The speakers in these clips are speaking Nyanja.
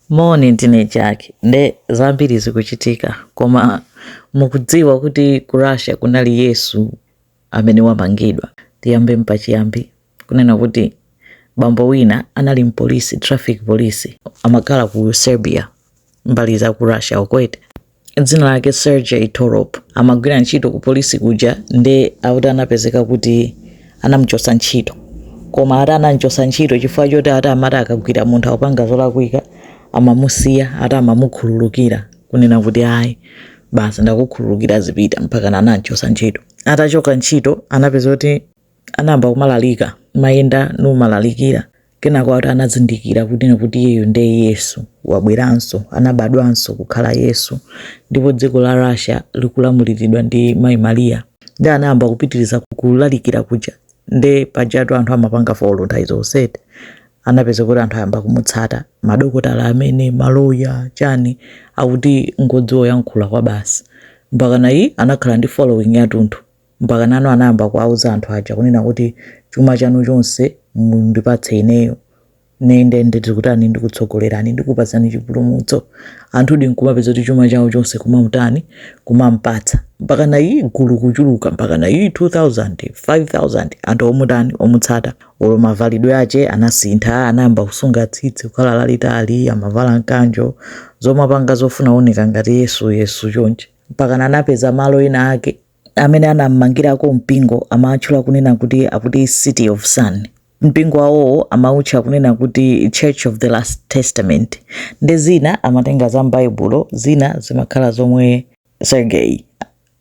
Moni ndine Jack nde zambiri zikuchitika koma mukudziwa kuti ku Russia kunali Yesu amene wamangidwa tiyambe mpachiyambi kunena kuti bambo wina anali mpolisi traffic police amakhala ku Serbia mbali za ku Russia ukwete dzina lake Sergey Torop amagwira ntchito ku polisi kuja nde akuti anapezeka kuti anamuchotsa ntchito koma ati anamchotsa ntchito chifukwa choti ati amati akagwira munthu akupanga zolakwika amamusiya ati amamukhululukira kunena kuti ayi basi ndakukhululukira zipita mpaka anamchotsa ntchito atachoka ntchito anapezeka kuti anayamba kumalalika kumayenda nkumalalikira kenako ati anazindikira kunena kuti iyeyo ndiye yesu wabweranso anabadwanso kukhala yesu ndipo dziko la russia likulamulidwa ndi mayi mariya ndiye anayamba kupitiriza kulalikira kuja nde pajatu anthu amapanga folo nthawi zonse eti anapezeka kuti anthu ayamba kumutsata madokotala amene maloya chani akuti ngodziwa kuyankhula kwabasi mpakana anakhala ndi following yatunthu Mpakana anayamba kuwauza anthu aja kunena kuti, Chuma chanu chonse mundipatse ineyo. Ine nde ndikutani, ndikutsogolerani, ndikupatsani chipulumutso. Anthudi nkumapezeka kuti chuma chawo chonse kumamutani, kumampatsa. Mpakana gulu kuchuluka, mpakana 2,000, 5,000, anthu omutani, omutsata. Olo mavalidwe ache anasintha, anayamba kusunga tsitsi kukhala lalitali, amavala mkanjo, zomapanga zofuna kuoneka ngati Yesu Yesu chonchi. Mpakana anapeza malo ena ake amene anam'mangirako mpingo amatchula kunena kuti akuti City of Sun. Mpingo wawowo amautcha kunena kuti Church of the Last Testament. Nde zina amatenga za m'Baibulo, zina zimakhala zomwe Sergei,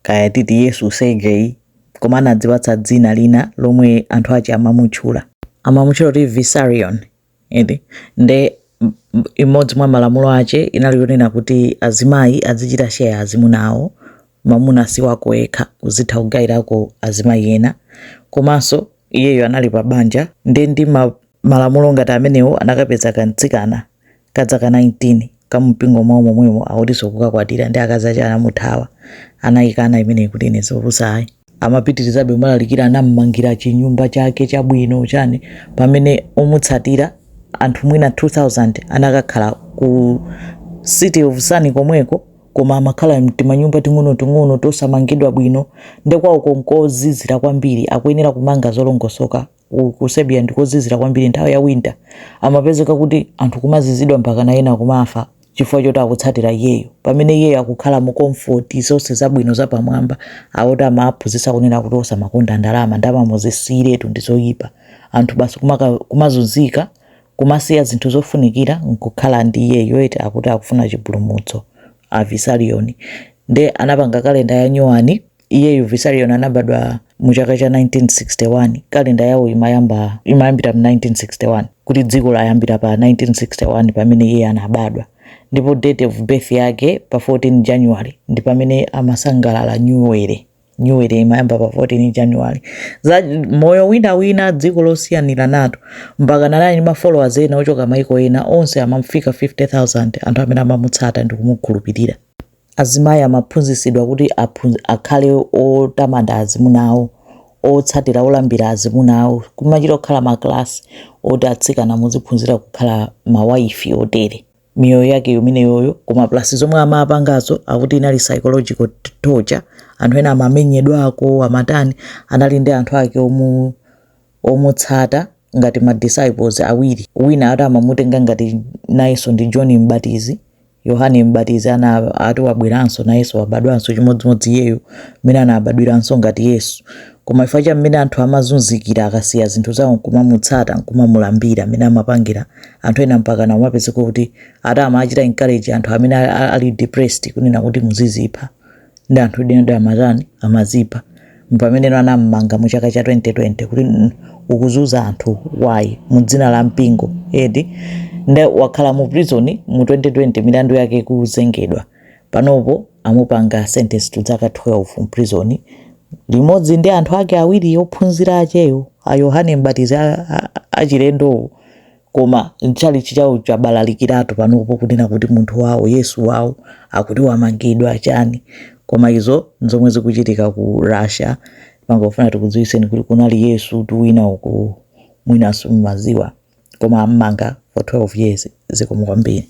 kaya titi Yesu Sergei, koma anadzipatsa dzina lina lomwe anthu ache amamutchula. Amamutchula kuti Vissarion. eti nde imodzi mwa malamulo ache inali yonena kuti azimayi azichita share azimuna awo mamuna si wako ekha uzitha kugairako azimayi ena komanso iyeyo anali pa banja nde ndi ma, malamulo ngati amenewo anakapeza kamtsikana ka dzaka 19 kamumpingo mwawo momwemo akutinso kukakwatira nde akazi ache anamuthawa anaikana imeneyi kuti ine zopusa ayi amapitirizabe kumalalikira anammangira chinyumba chake chabwino chani pamene omutsatira anthu mwina 2000 anakakhala ku city of sun komweko koma amakhala mtimanyumba ting'onoting'ono tosamangidwa bwino nde kwawoko nkozizira kwambiri akuyenera kumanga zolongosoka ku, ku Siberia ndikozizira kwambiri nthawi ya winter amapezeka kuti anthu kumazizidwa mpaka na ena kumafa chifukwa choti akutsatira iyeyo pamene iyeyo akukhala mu comfort zonse zabwino zapamwamba ati amaphunzitsa kunena kuti osamakonda ndalama ndalama muzisiyiretu ndi zoyipa anthu basi kumaka- kumazunzika kumasiya zinthu zofunikira nkukhala ndi iyeyo eti akuti akufuna chipulumutso a Vissarion nde anapanga kalenda ya nyuwani iyeyu Vissarion anabadwa mu chaka cha 1961 kalenda yawo imayamba imayambira mu 1961 kuti dziko layambira pa 1961 pamene iye anabadwa ndipo date of birth yake pa 14 january ndi pamene amasangalala new year new year imayamba pa 14 january za moyo wina wina dziko losiyanira lathu mpakana anali ndi mafollowers ena ochoka maiko ena onse amafika 50000 anthu amene amamutsata ndi kumukhulupirira Azimayi amaphunzitsidwa kuti akhale otamanda azimuna awo, otsatira olambira azimuna awo. Kumachita kukhala makalasi oti atsikana muziphunzira kukhala mawayifi otere. Moyo wake imeneyoyo koma plus zomwe amapangazo akuti inali psychological torture. Anthu ena amamenyedwako, amatani. Anali ndi anthu ake omu omutsata ngati ma disciples awiri. Wina ati amamutenga ngati nayenso ndi John M'batizi. Yohane M'batizi naye ati wabweranso nayenso wabadwanso chimodzimodzi iyeyo mmene anabadwiranso ngati Yesu. Koma chifukwa cha mmene anthu amazunzikira akasiya zinthu zawo nkumamutsata nkumamulambira mmene amapangira anthu ena mpakana amapezeka kuti ati amachita encourage anthu amene a- a- ali depressed kunena kuti muzizipha. ndi anthu enadi amatani amazipha pameneno anammanga mu chaka cha 2020 kuti "Mm, ukuzunza anthu wayi mu dzina la mpingo eti nde wakhala mu prison mu 2020 milandu yake ikuzengedwa panopo amupanga sentence to zaka 12 mu prison limodzi ndi anthu ake awiri ophunzira acheyo a yohane mbatizi a- a- achilendowo Koma tchalitchi chawo chabalalikiratu panopo kunena kuti munthu wawo Yesu wawo akuti wamangidwa chani. Koma izo nzomwe zikuchitika ku Russia. Timangofuna tikudziwitseni kuti kunali Yesutu wina uku mwina simumadziwa. Koma ammanga for 12 years. Zikomo kwambiri.